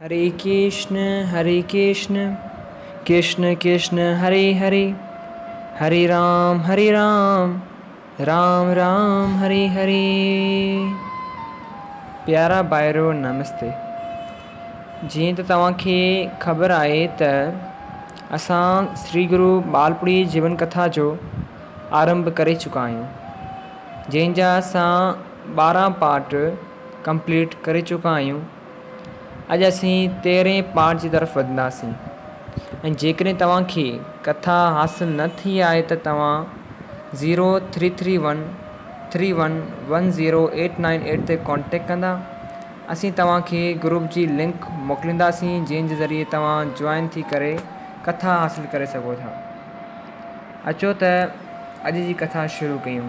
هري ڪرشن هري ڪرشن ڪرشن ڪرشن هري هري هري رام هري رام رام رام هري هري پيارا ڀائرو نمستي جيئن ته توهان کي خبر آهي ته اسان شري گرو ٻالپڙي جيون ڪٿا جو آرنڀ ڪري چڪا آهيون جنهن جا اسان ٻارهن پارٽ ڪمپليٽ ڪري چڪا آهيون اڄ اسين تيرهين پارٽ جي طرف وڌنداسين ۽ جيڪڏهن توهان کي ڪٿا حاصل نه ٿي آهي ته توهان zero three three one three one one zero eight nine eight تي ڪانٽيڪٽ ڪندا اسين توهان کي گروپ جي لنڪ موڪلينداسين جنهن جي ذريعي توهان جوائن ٿي ڪري ڪٿا حاصل ڪري سگهو ٿا اچو ته اڄ جي ڪٿا شروع ڪيون.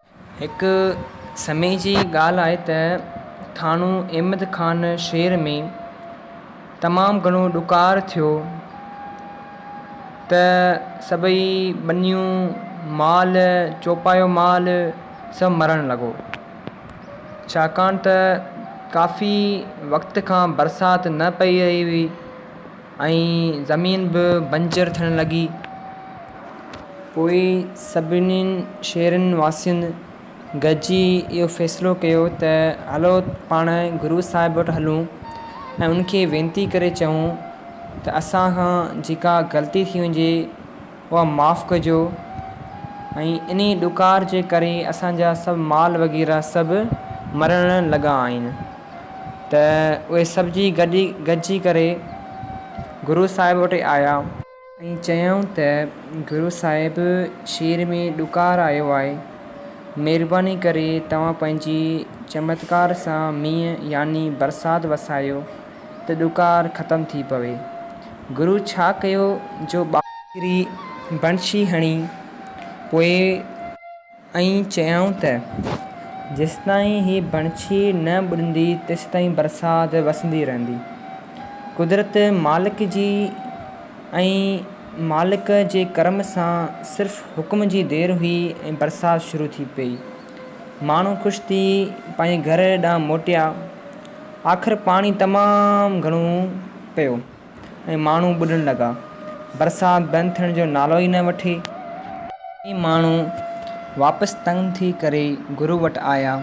هڪ سمي جي ڳالهه آهي ته ٿانو احمد خان شهر ۾ تمام گهڻو ڏڪار ٿيو ته سڀئي ٻنيون، مال، چوپايو مال سڀ مرڻ لڳو. ڇاڪاڻ ته ڪافي وقت کان برسات نه پئي رهي هئي. ۽ زمين به بنجر ٿيڻ لڳي. پوء سڀني شهرين واسين گڏجي اهو فيصلو ڪيو ته هلو پاڻ گرو صاحب وٽ هلون ۽ ان کي وينتي ڪري چئون ته اسان کان جيڪا غلطي ٿي هجي اها معاف ڪجو ۽ انهي ڏڪار جي ڪري اسان جا سڀ مال وغيره سڀ مرڻ لڳا آهن ته اهي سڀ جي گڏي گڏجي ڪري گرو صاحب وٽ آيا ۽ چيائون ته گرو صاحب شير ۾ ڏڪار آيو آهي مهرباني ڪري توهان پنهنجي چمتڪار سان مينهن يعني برسات وسايو ته ڏڪار ختم ٿي پوي. گرو ڇا ڪيو جو ٻار. ڪري بڻشي هڻي پوي. ائين چيائون ته، جيستائين هي بڻشي نه ٻڏندي تيستائين برسات وسندي رهندي. قدرت مالڪ جي ۽ مالڪ جي ڪرم سان صرف حڪم جي دير هئي ۽ برسات شروع ٿي پئي. ماڻهو خوش ٿي پنهنجي گهر ڏانهن موٽيا. آخر پاڻي تمام گهڻو پيو ۽ ماڻهو ٻڏڻ لڳا. برسات بند ٿيڻ جو نالو ئي نه وٺي. ڪيئي ماڻهو واپس تنگ ٿي ڪري گرو وٽ آيا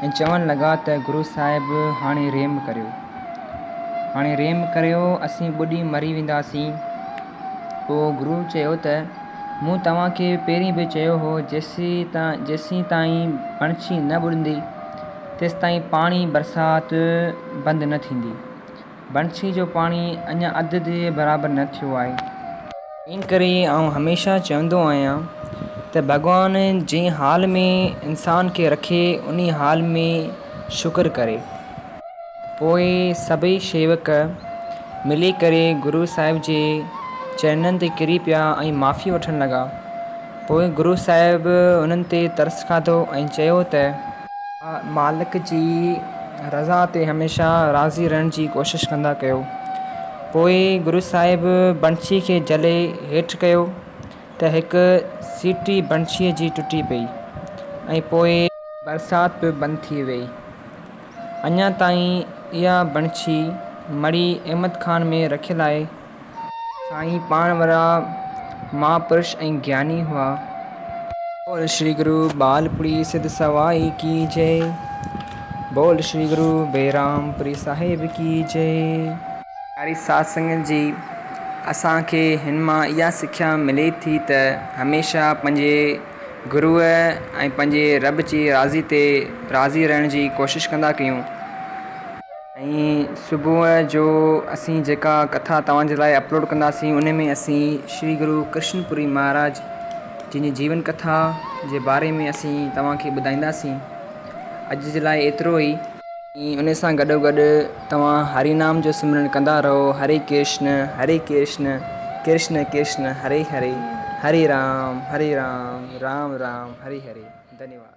۽ چوڻ لڳا ته گرو صاحب هاڻي رحم ڪريو. هاڻي رحم ڪريو اسين ٻڏي مري وينداسين. پوء گرو چيو ته مون توهان کي پهرين به چيو هو جيسين تائين پڻڇي نه ٻڏندي تيستائين پاڻي برسات بند نه ٿيندي. بنسي جو پاڻي اڃا اڌ جي برابر نه ٿيو آهي. ان ڪري آئون هميشه چوندو آهيان ته ڀڳوان جنهن حال ۾ انسان کي رکي انهي حال ۾ شڪر ڪري. پوء سڀئي شيوڪ ملي ڪري گرو صاحب جي چرنن تي ڪري پيا ۽ معافي وٺڻ لڳا. پوء گرو صاحب انهن تي ترس کاڌو ۽ چيو ته. مالڪ جي رضا تي هميشه راضي رهڻ جي ڪوشش ڪندا ڪيو. پوء گرو صاحب بنشي کي جهلي هيٺ ڪيو ته هڪ سيٽي بنشيء جي ٽٽي پئي ۽ پوء. برسات به بند ٿي ويئي. اڃا تائين اها بنشي مڙئي احمد خان ۾ رکيل آهي. سائين پاڻ وڏا مھاپرش ۽ گياني ھئا. بول شري گرو ٻال پڙي سڌ سوائي ڪي جئ. بول شري گرو بيرام پري صاحب ڪي جئ. پياري ساڌ سنگت جي اسان کي ھن مان اھا سکيا ملي ٿي ته ھميشه پنھنجي گروء ۽ پنھنجي رب جي راضي تي راضي رھڻ جي ڪوشش ڪندا ڪيون. ۽ صبح جو اسين جيڪا ڪٿا توهان جي لاء اپلوڊ ڪنداسين ان ۾ اسين شري گرو ڪرشن پوري مهاراج جن جي جيون ڪٿا جي باري ۾ اسين توهان کي ٻڌائينداسين اڄ جي لاء ايترو ئي ۽ ان سان گڏو گڏ توهان هري نام جو سمرن ڪندا رهو هري ڪرشن هري ڪرشن ڪرشن ڪرشن هري هري هري رام هري رام رام رام هري هري ڌنيواد.